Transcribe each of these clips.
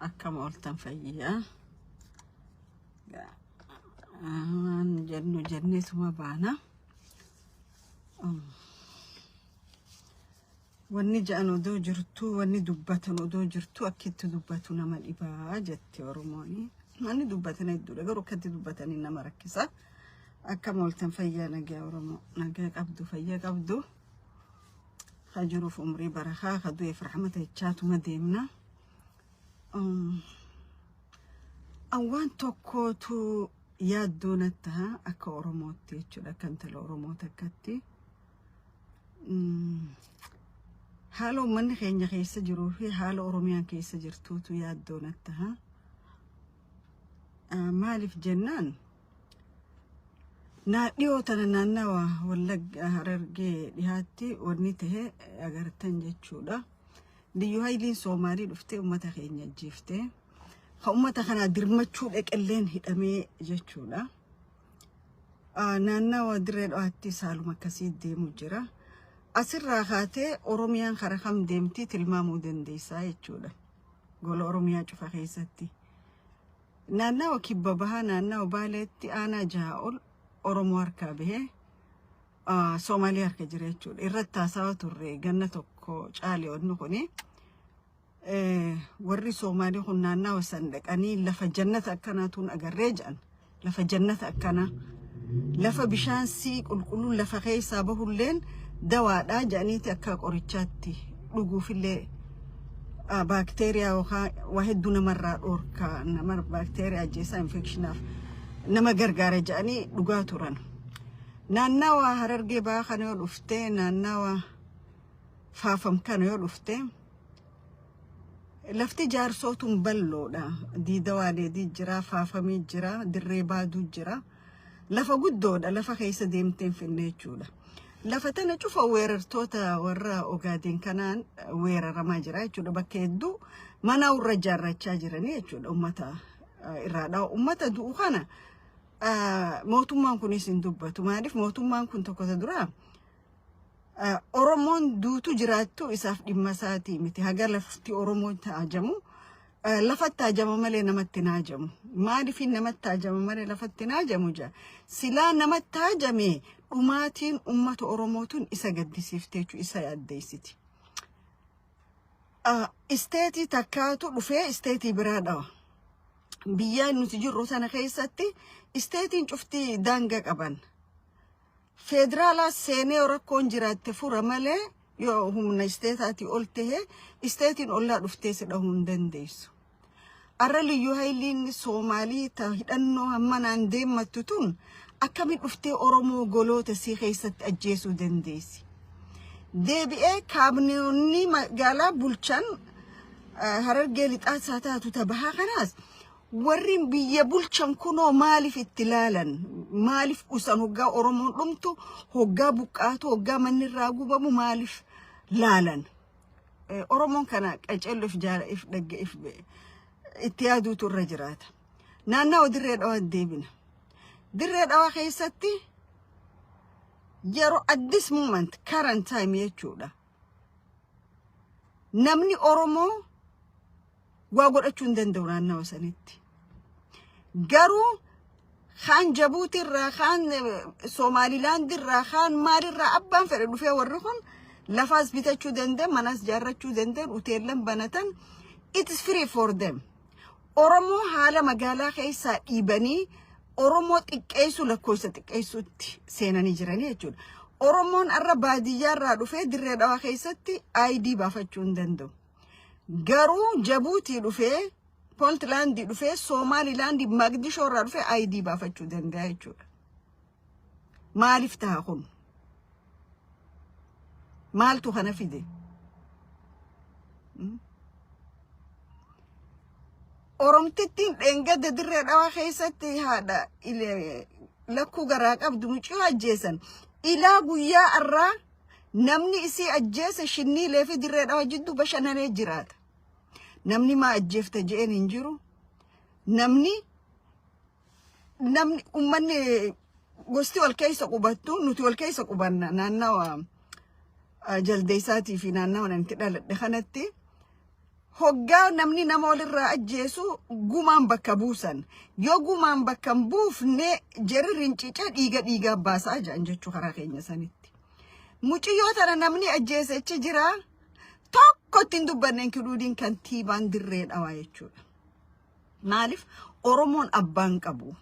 akkam ooltan fayyaa waan jennu jenneetuma baana wanni ja'an odoo jirtu wanni dubbatan odoo jirtu akkitti dubbatu nama dhibaa jette oromoon manni dubbatan hedduudha garuu akkatti dubbatanii nama rakkisa akkam ooltan fayyaa nagaa oromoo nagaa qabdu fayyaa qabdu. ka jiruuf umrii barakaa ka du'eef rahmata jechaatuma deemna. Um, an waan tokkootu yaaddoo natti taha akka Oromootti jechuudha akka intala Oromoo takkatti. Mm, Haala uummanni keenya keessa jiruu fi haala Oromiyaan keessa jirtuutu yaaddoo natti taha. Ah, Maaliif jennaan Naa dhiyoo tana naannawa Wallagga Harargee dhihaatti wanni tahe agartan jechuudha. Liyyu hayliin Soomaalii dhuftee uummata keenya ajjeeftee kan uummata kanaa dirmachuu dhaqelleen hidhamee jechuudha. Ah, Naannawa dirree dho'aatti saaluma akkasii deemu jira. Asirraa kaatee Oromiyaan kara kam deemtii tilmaamuu dandeessaa jechuudha. Gola Oromiyaa cufa keessatti. Naannawa Kibba Bahaa naannawa Baaleetti aanaa jahaa ol Oromoo harkaa bahee Soomaalii harka jira jechuudha. Irratti haasawa turre ganna tokko caale wanni kuni. Warri Soomaalii kun naannawa san dhaqanii lafa jannata akkanaa tuun agarree jedhan. Lafa jannata akkanaa. Lafa bishaan sii qulqulluun lafa keessaa bahulleen dawaadhaa jedhaniiti akka qorichaatti dhuguufillee baakteeriyaa yookaan waa hedduu namarraa dhoorka nama baakteeriyaa ajjeesaa infekshinaaf nama gargaara jedhanii dhugaa turan. Naannawa harargee ba'aa kana yoo dhufte naannawa faafam kana yoo dhufte lafti jaarsootuun balloodha. Diida waaleedii jira, faafamii jira, dirree baaduu jira. Lafa guddoodha lafa keessa deemteen finne jechuudha. Lafa tana cufa weerartoota warra ogaadeen kanaan weeraramaa jira jechuudha. Bakka hedduu mana warra ijaarrachaa jiranii jechuudha ummata irraadha. Ummata du'u kana mootummaan kunis hin dubbatu. Maaliif mootummaan kun tokko isa duraa Oromoon duutu jiraattu isaaf dhimma isaatii miti. Haga lafti Oromoo taajamu Eh, lafatti haajama malee namatti hin haajamu. Maaliifin namatti haajama malee lafatti hin haajamu jaa? Silaa namatti haajame dhumaatiin uummata Oromootuun isa gaddisiifte jechuudha, isa yaaddeessiti. Ah, Isteetii takkaatu dhufee isteetii biraa dhawa. Biyya nuti jirru sana keessatti isteetiin cufti daanga qaban. Feederaalaas seenee yoo rakkoon jiraatte fura malee yoo humna isteetaatii ol ta'e isteetiin ollaa dhuftee si dhahuu hin dandeessu. Arra liyyuu hayliin Soomaalii ta hidhannoo hammanaan deemmattu tun akkami dhuftee Oromoo goloota sii keessatti ajjeesuu dandeessi. Deebi'ee kaabinoonni magaalaa bulchan eh, harargee lixaas haa taatu ta bahaa kanaas Warrin biyya bulchan kunoo maaliif itti laalan? Maaliif dhusan hoggaa Oromoon dhumtu, hoggaa buqqaatu, hoggaa manni irraa gubamu maaliif laalan? Eh, Oromoon kana qaceello if jaala if dhagge if be- itti yaaduutu irra jiraata. Naannawa dirree dhawaa deebina. Dirree dhawaa keessatti yeroo at this moment current time jechuudha. Namni Oromoo waa godhachuu hin danda'u naannawa sanitti. Garuu kaan Jabuutii irraa kaan Somaalilaand irraa kaan maalirraa abbaan fedhe dhufee warri kun lafaas bitachuu danda'e manaas jaarrachuu danda'e hoteellan banatan it is free for them. Oromoo haala magaalaa keessaa dhiibanii Oromoo xiqqeessuu lakkoofsa xiqqeessuutti seenanii jiranii jechuudha. Oromoon har'a baadiyyaa irraa dhufee dirree dhawaa keessatti ID baafachuu hin danda'u. Garuu Jabuutii dhufee Pontlaandii dhufee Soomaalilaandii Maqdishoo irraa dhufee ID baafachuu danda'a jechuudha. Maaliif ta'a kun? Maaltu kana fide? Mm. Oromtittiin dheengadda dirree dhawaa keessatti haadha ile- lakkuu garaa qabdu muciyoo ajjeesan. Ilaa guyyaa irraa Namni isii ajjeese shinniilee fi dirree dhawa jidduu bashannanee jiraata. Namni maa ajjeefta je'een hin jiru. Namni namni ummanni gosti wal keessa qubattu nuti wal keessa qubanna naannawa ah, jaldeessaatii fi naannawa nan itti dhaladhe kanatti Hoggaa namni nama walirraa ajjeesu gumaan bakka buusan. Yoo gumaan bakka hin buufne jeri rincice dhiiga dhiigaa baasaa jedhan jechuu karaa keenya sanitti. Muciyyoo tana namni ajjeese achi jira. Tokko ittiin dubbanne inkluudiin kantiibaan dirree dhawaa jechuudha. Maalif Oromoon abbaa hin qabu.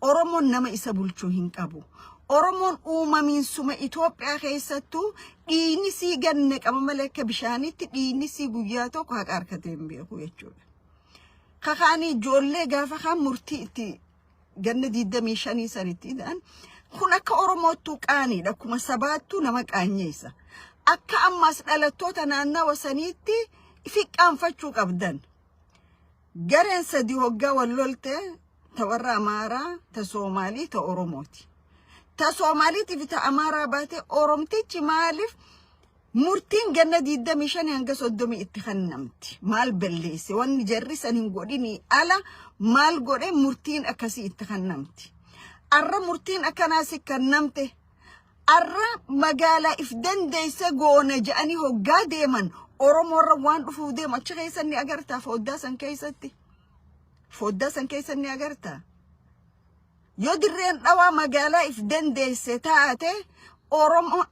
Oromoon nama isa bulchuu hin qabu. Oromoon uumamiinsuma Itoophiyaa keessattuu dhiinisii ganna qaba malee akka bishaaniitti dhiinisii guyyaa tokko haqa harkatee hin beeku jechuudha. Kakaanii ijoollee gaafa kaan murtii itti ganna 25 sanitti ta'an kun akka Oromoottuu qaaniidha. Akkuma sabaattuu nama qaanyeessa. Akka ammaas dhalattoota naannawa saniitti fiqqaanfachuu qabdan. Gareen sadi hoggaa wal lolte ta warra Amaaraa, ta Soomaalii, ta Oromooti. Ta Soomaaliitii fi ta Amaaraa baatee Oromtichi maaliif murtiin ganna 25 hanga 30 itti kennamti? Maal balleesse? Wanni jarri san hin godhinii ala maal godhe murtiin akkasii itti kennamti? Arra murtiin akkanaa si kennamte Arra magaalaa if dandeesse goona jedhanii hoggaa deeman Oromoorra waan dhufuuf deemu achi keessan ni agartaa fooddaa san keessatti. Fooddaa san keessan ni agartaa. Yoo dirreen dhawaa magaalaa if dandeesse taate Oromoo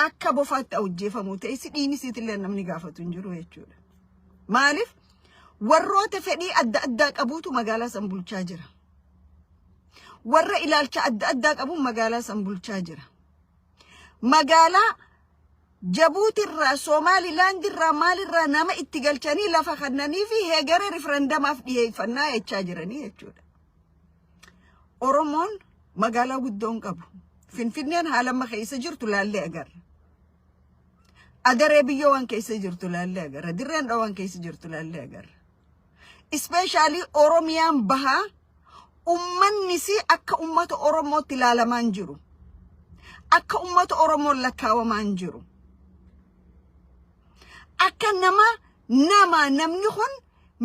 akka bofaatti hojjeefamuu ta'e si dhiinisiitillee namni gaafatu hin jiru jechuudha. Maaliif? Warroota fedhii adda addaa qabuutu magaalaa san bulchaa jira. warra ilaalcha adda addaa qabuun magaalaa san bulchaa jira. Magaalaa Jabuutirraa, Soomaalilaandirraa, maalirraa nama itti galchanii lafa kannanii fi heegara riferendamaaf dhiyeeffannaa jechaa jiranii jechuudha. Oromoon magaalaa guddoo hin qabu. Finfinneen haala amma keessa jirtu laallee agarra. Adaree biyyoo waan keessa jirtu laallee agarra. Dirreen dhawaan keessa jirtu laallee agarra. Ispeeshaalii Oromiyaan bahaa ummannisii akka ummata Oromootti ilaalamaa hin jiru. Akka ummata Oromoon lakkaawamaa hin jiru. Akka nama nama namni kun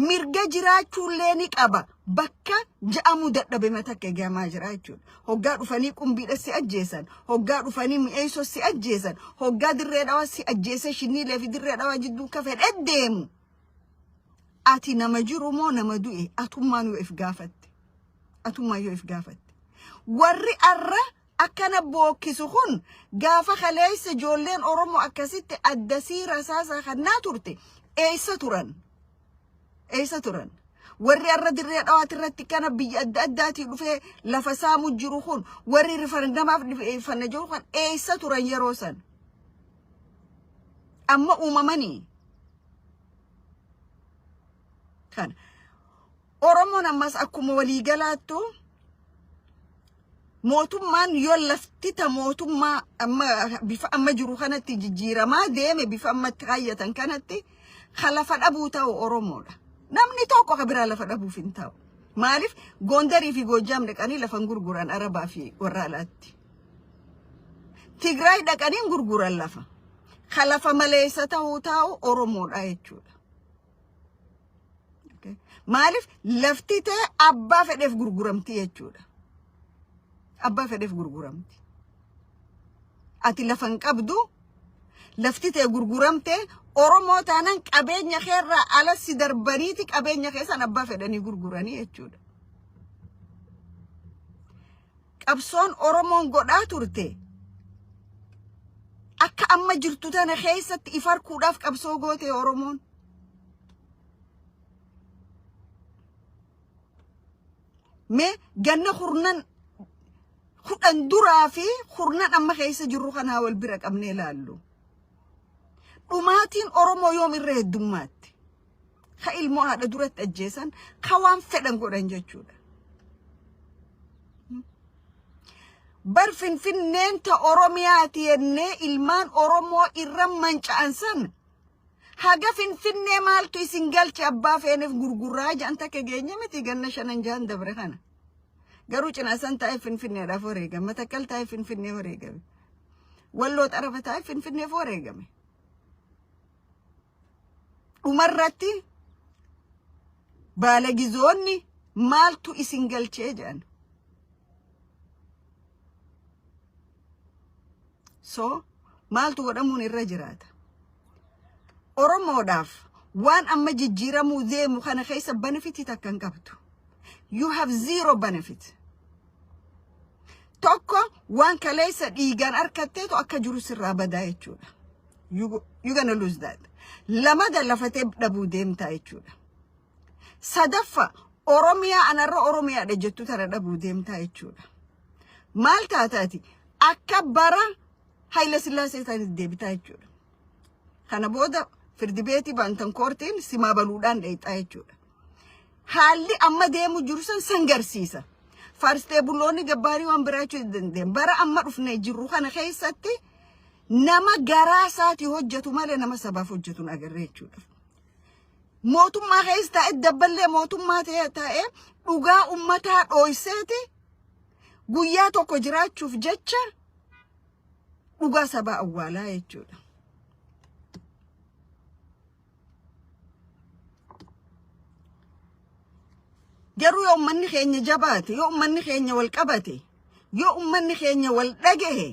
mirga jiraachuullee ni qaba bakka ja'amuu dadhabe matakka eegamaa jira jechuudha. Hoggaa dhufanii qumbiidha si ajjeesan, hoggaa dhufanii mi'eessoo si ajjeesan, hoggaa dirree dhawaa si ajjeesee shinniilee fi dirree dhawaa jidduu akka fedhe deemu Ati nama jiru moo nama du'e atummaan yoo if gaafatte. Atummaan yoo if gaafatte. Warri arra akkana bookkisu kun gaafa kaleessa ijoolleen Oromoo akkasitti adda siira isaasaa kannaa turte eessa turan? Eessa turan? Warri arra dirree dhawaati irratti kana biyya adda addaatii dhufee lafa saamu jiru kun warri rifarandamaaf fanna jiru kun eessa turan yeroo san? Amma uumamanii kana. Oromoon ammas akkuma waliigalaattu mootummaan yoo lafti ta mootummaa amma bifa amma jiru kanatti jijjiiramaa deeme bifa ammatti kaayyatan kanatti kan lafa dhabuu ta'u Oromoodha. Namni tokko kan biraa lafa dhabuuf hin ta'u. Maaliif Gondarii fi Goojjaam dhaqanii lafa hin gurguran Arabaa fi warra alaatti. Tigraay dhaqanii gurguran lafa. Ka lafa maleessa ta'uu taa'u Oromoodha jechuudha. Okay. Maaliif lafti ta'e abbaa fedheef gurguramti jechuudha. Abbaa fedheef gurguramti. Ati lafa hin qabdu lafti ta'e gurguramte Oromoo taanaan qabeenya keerraa ala si darbaniiti qabeenya keessan abbaa fedhanii gurguranii jechuudha. qabsoon Oromoon godhaa turte akka amma jirtu tana keessatti if harkuudhaaf qabsoo goote Oromoon. Mee ganna kurnan kudhan duraa fi kurnan amma keessa jirru kanaa wal bira qabnee ilaallu. Dhumaatiin Oromoo yoom irra heddummaatti? ka ilmoo haadha duratti ajjeesan ka waan fedhan godhan jechuudha. Bar finfinneen ta Oromiyaati jennee ilmaan Oromoo irra manca'an san haga finfinnee maaltu isin galche abbaa feeneef gurgurraa ja'an takka geenye miti ganna shanan ja'an dabre kana. Garuu cinaa san taa'ee finfinneedhaaf wareegame matakkal taa'ee finfinnee wareegame. Walloo xarafa taa'ee finfinneef wareegame. dhumarratti baalagizoonni maaltu isin galchee jedhan. So maaltu godhamuun irra jiraata. Oromoodhaaf waan amma jijjiiramuu deemu kana keessa benefitii takka hin qabdu. You have zero benefit. Tokko waan kaleessa dhiigaan harkatteetu akka jiru sirraa badaa jechuudha. You, go- you gonna lose that. Lama galafatee dhabuu deemtaa jechuudha. Sadaffa Oromiyaa anarra Oromiyaadha jettu tana dhabuu deemtaa jechuudha. Maal taataati? Akka bara Haayila Sillaasee isaaniif deebitaa jechuudha. Kana booda firdi beetii baantan koortiin simaa baluudhaan dheexaa jechuudha. Haalli amma deemu jiru san san garsiisa. Faarstee buloonni gabbaarii waan biraa jechuu hin dandeenye. Bara amma dhufnee jirru kana keessatti nama garaa isaati hojjetu malee nama sabaaf hojjetu hin agarree jechuudha. Mootummaa keessa taa'e dabballee mootummaa ta'e taa'e dhugaa ummataa dhooyseeti guyyaa tokko jiraachuuf jecha dhugaa sabaa awwaalaa jechuudha. Garuu yoo ummanni keenya jabaate, yoo ummanni keenya wal qabate, yoo ummanni keenya wal dhagahe,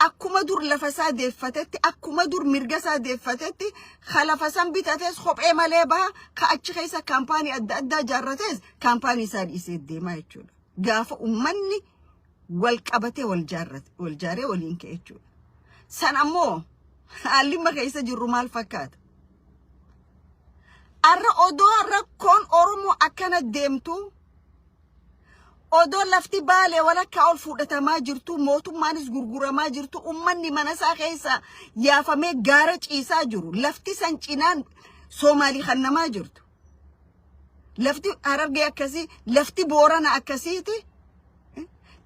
akkuma dur lafa isaa deeffatetti akkuma dur mirga isaa deeffatetti ka lafa san bitates kophee malee baha ka achi keessa kaampaanii adda addaa jaarrates kaampaanii isaa dhiisee deemaa jechuudha. Gaafa ummanni wal qabatee wal jaarrate wal jaaree waliin ka'e jechuudha. San ammoo haalli amma keessa jirru maal fakkaata? Arra odoo rakkoon Oromoo akkana deemtu Odoo lafti Baalee walakkaa ol fudhatamaa jirtuu, mootummaanis gurguramaa jirtu, ummanni mana isaa keessa yaafamee gaara ciisaa jiru. Lafti san cinaan Soomaalii kannamaa jirtu. Lafti Harargee akkasii, lafti Boorana akkasiiti.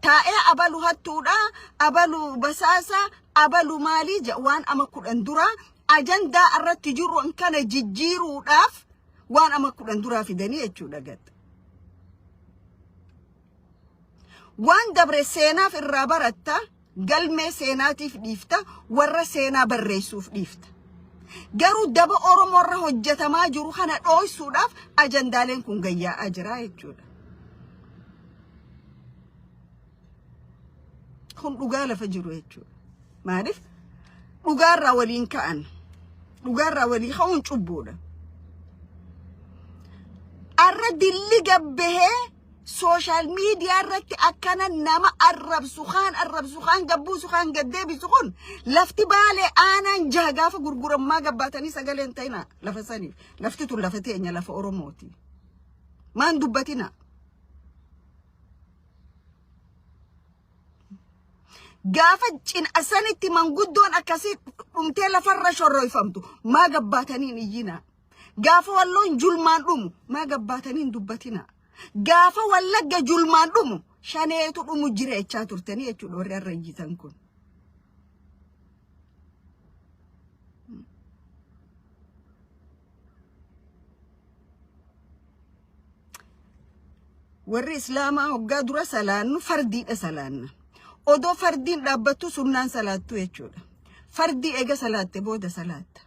Taa'ee abalu hattuudha, abalu basaasa, abalu maalii jedha waan ama kudhan dura ajandaa irratti jiru kana jijjiiruudhaaf waan ama kudhan duraa fidanii jechuudha gatta. Waan dabre seenaaf irraa baratta, galmee seenaatiif dhiifta, warra seenaa barreessuuf dhiifta. Garuu daba Oromoo irra hojjetamaa jiru kana dhooysuudhaaf ajandaaleen kun gayyaa'aa jira jechuudha. Kun dhugaa lafa jiru jechuudha. Maaliif dhugaarraa waliin ka'an dhugaarraa walii ka'uun cubbuudha. Arra dilli gabbahee sooshaal miidiyaa irratti akkana nama arrabsu kaan arrabsu kaan gabbuusu kaan gaddeebisu kun lafti baalee aanaan jaha gaafa gurgurammaa gabbaatanii sagalee hin ta'ina lafa saniif lafti tun lafa teenya lafa oromooti maan dubbatina Gaafa cin'a sanitti manguddoon akkasii dhumtee lafarra shorroyfamtu maa gabbaataniin iyyinaa. Gaafa walloon julmaan dhumu maa gabbaataniin dubbatinaa. Gaafa wallagga julmaan dhumu shaneetu dhumu jireechaa turtanii jechuudha warri har'a iyyitan kun. warri islaamaa hoggaa dura salaannu fardiidha salaanna odoo fardiin dhaabbattu sunnaan salaattu jechuudha fardii eega salaatte booda salaatta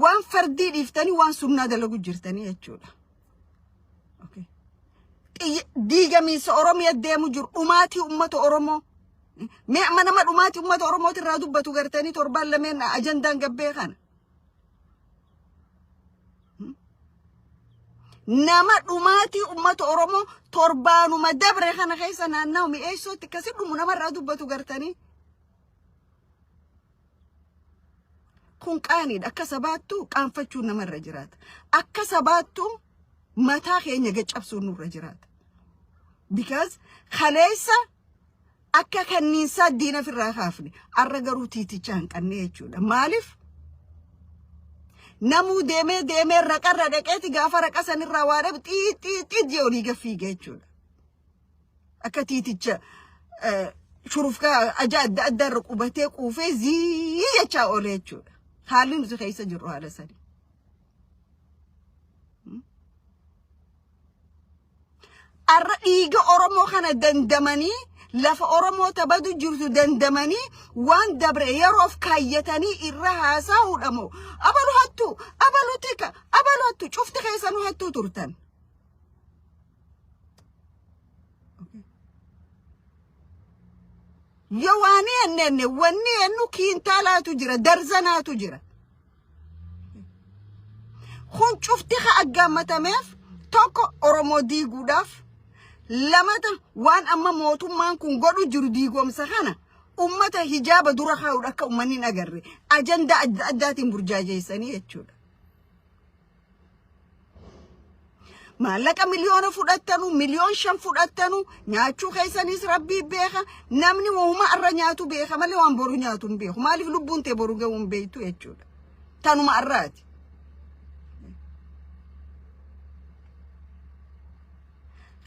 waan fardii dhiiftanii waan sunnaa dalagu jirtanii jechuudha Okay. Xiyya- diigamiinsa oromiya deemu jiru dhumaatii ummata oromoo mee amma nama dhumaatii ummata oromootirraa dubbatu gartanii torbaan lameen ajandaan gabbee kana nama dhumaatii ummata Oromoo torbaanuma dabre kana keessa naannawa mi'eessootti akkasi dhumu namarraa dubbatu gartanii. Kun qaaniidha. Akka sabaattu qaanfachuun namarra jiraata. Akka sabaattu mataa keenya gaccabsuun nurra jiraata. Because kaleessa Akka kanniinsaa diina ofirraa kaafne arra garuu tiiticha hanqannee jechuudha. Maaliif? Namuu deemee deemee raqarra dhaqeeti gaafa raqa sanirraa waa dhabu xiixxiixxiit jee olii gaffiige jechuudha. Akka tiiticha eh, shurufkaa ajaa adda addaa irra qubatee quufee zii jechaa oole jechuudha. Haalli nuti keessa jirru haala sanii. Arra dhiiga Oromoo kana dandamanii lafa Oromoo tabadu jirtu dandamanii waan dabre yeroof kaayyatanii irra haasaa'uudha moo abalu hattuu abalu tika abalu hattuu cufti keessanuu hattuu turtan. Yoo waanii ennenne wanni ennu kiintaalaatu jira darzanaatu jira. Kun cufti haa aggaammatameef tokko Oromoo diiguudhaaf lamata waan amma mootummaan kun godhu jiru diigomsa kana ummata hijaaba dura kaa'uudha akka ummanni hin agarre ajandaa adda addaatiin burjaajeessanii jechuudha. maallaqa miliyoona fudhattanu miliyoon shan fudhattanu nyaachuu keessaniis rabbii beeka namni wauma arra nyaatu beeka malee waan boru nyaatu hin beeku maaliif lubbuun tee boru ga'uu hin beektu jechuudha tanuma arraati.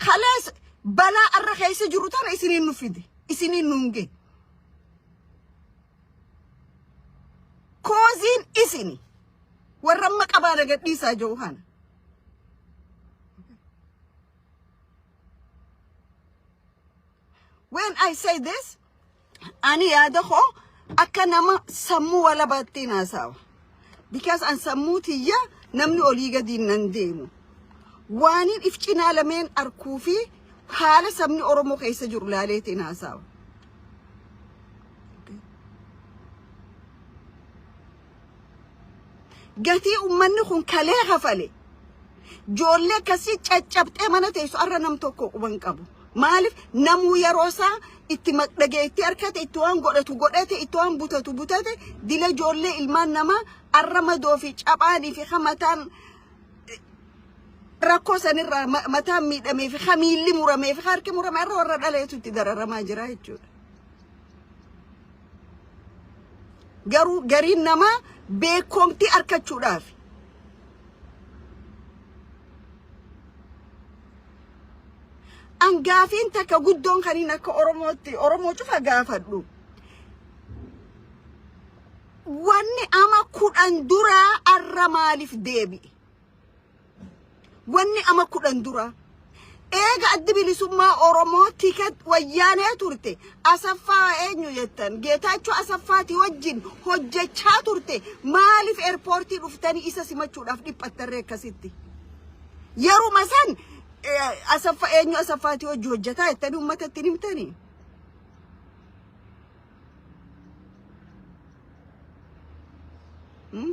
Kalees balaa arra keessa jiru tana isiniin nu fide isiniin nu hin ga'e. Kooziin isini. Warra amma qabaana gadhiisaa jiru kana. When I say this, ani yaada koo akka nama sammuu walabaattiin haasaawa. Because an sammuu tiyya namni olii gadiin nan deemu. Waaniin if cinaa lameen arkuu fi haala sabni Oromoo keessa jiru laaleetiin haasaawa. gatii ummanni kun kalee kafale joollee akkasii caccabxee mana teessu arra nam tokko quban qabu maaliif namuu yeroo isaa itti maqdhagee itti harkate itti waan godhatu godhate itti waan butatu butate dila joollee ilmaan namaa arra madoo fi caphaanii fi hamataan rakkoo sanirraa ma- mataan miidhamee fi hamiilli muramee fi harki murame irra warra dhaleetu itti dararamaa jira jechuudha. Garuu gariin namaa beekomtii arkachuudhaaf an gaafiin takka guddoon kaniin akka Oromootti Oromoo cufa gaafadhu. Wanni ama kudhan duraa arra maaliif deebi'e? Wanni ama kudhan dura eega addi bilisummaa Oromoo tiket wayyaanee turte Asaffaa eenyu jettan Geetaachoo Asaffaati wajjin hojjechaa turte maaliif eerpoortii dhuftanii isa simachuudhaaf dhiphattarree akkasitti. Yeruma san eh, Asaffa eenyu Asaffaati wajji hojjetaa jettanii uummata ittiin himtanii. Hmm?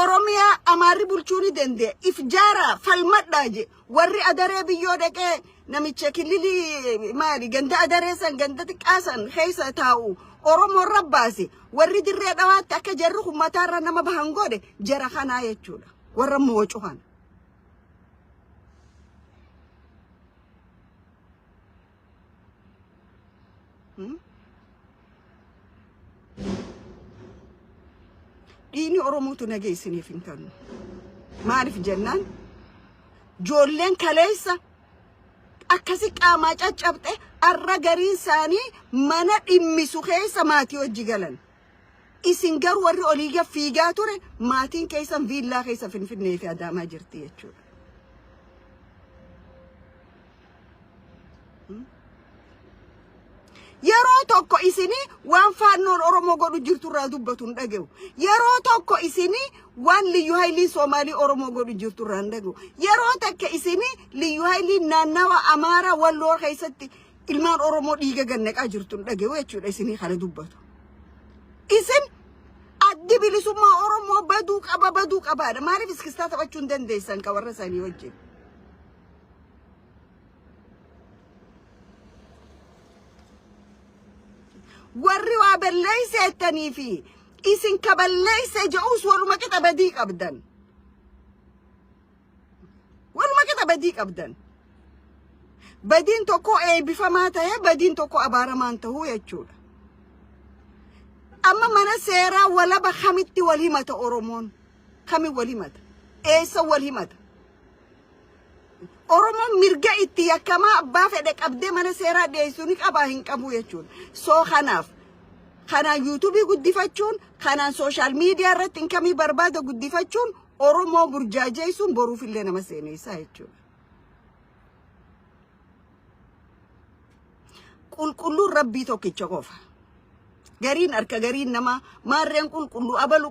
Oromiyaa amaarri bulchuu ni danda'e. If jaaraa falmadhaa je. Warri adaree biyyoo dhaqee namicha kililii maali ganda adaree san ganda xiqqaa san keessa taa'u Oromoo irra baase. Warri dirree dhawaatti akka jarri kun mataarra nama bahan godhe jara kanaa jechuudha. Warra moocu kana. dhiini oromootu nagee isiniif hin kennu maaliif jennaan joolleen kaleessa akkasi qaamaa caccabxe arra garii isaanii mana dhimmisu keessa maatii hojji galan isin garuu warri olii gad fiigaa ture maatiin keessan viillaa keessa finfinnee fi adaamaa jirti jechuudha. Yeroo tokko isinii waan faannoon Oromoo godhu jirtu irraa dubbatu hin dhage'u. Yeroo tokko isinii waan liyyu haylii Soomaalii Oromoo godhu jirtu irraa hin dhage'u. Yeroo takka isinii liyyu haylii naannawa Amaaraa Walloo keessatti ilmaan Oromoo dhiiga gannaqaa jirtu hin dhage'u jechuudha isinii kana dubbatu. Isin addi bilisummaa Oromoo baduu qaba baduu qabaadha. Maaliif iskistaa taphachuu hin dandeessan ka warra isaanii wajjin? warri waa balleeyse jettanii fi isin ka balleeyse je'us waruma qixa badii qabdan waruma qixa badii qabdan badiin tokko eebbifamaa ta'ee badiin tokko abaaramaan ta'uu jechuudha amma mana seeraa walaba kamitti wal himata oromoon kamin wal himata eessa wal himata Oromoon mirga itti yakkamaa abbaa fedhe qabdee mana seeraa dhiyeessuu ni qabaa hin qabuu jechuudha. Soo kanaaf kanaan yuutuubii guddifachuun kanaan sooshaal miidiyaa irratti inkamii barbaada guddifachuun Oromoo burjaajeessuun boruufillee nama seeneessaa jechuudha. Qulqulluun rabbii tokkicha qofa. Gariin harka gariin namaa maarreen qulqulluu abalu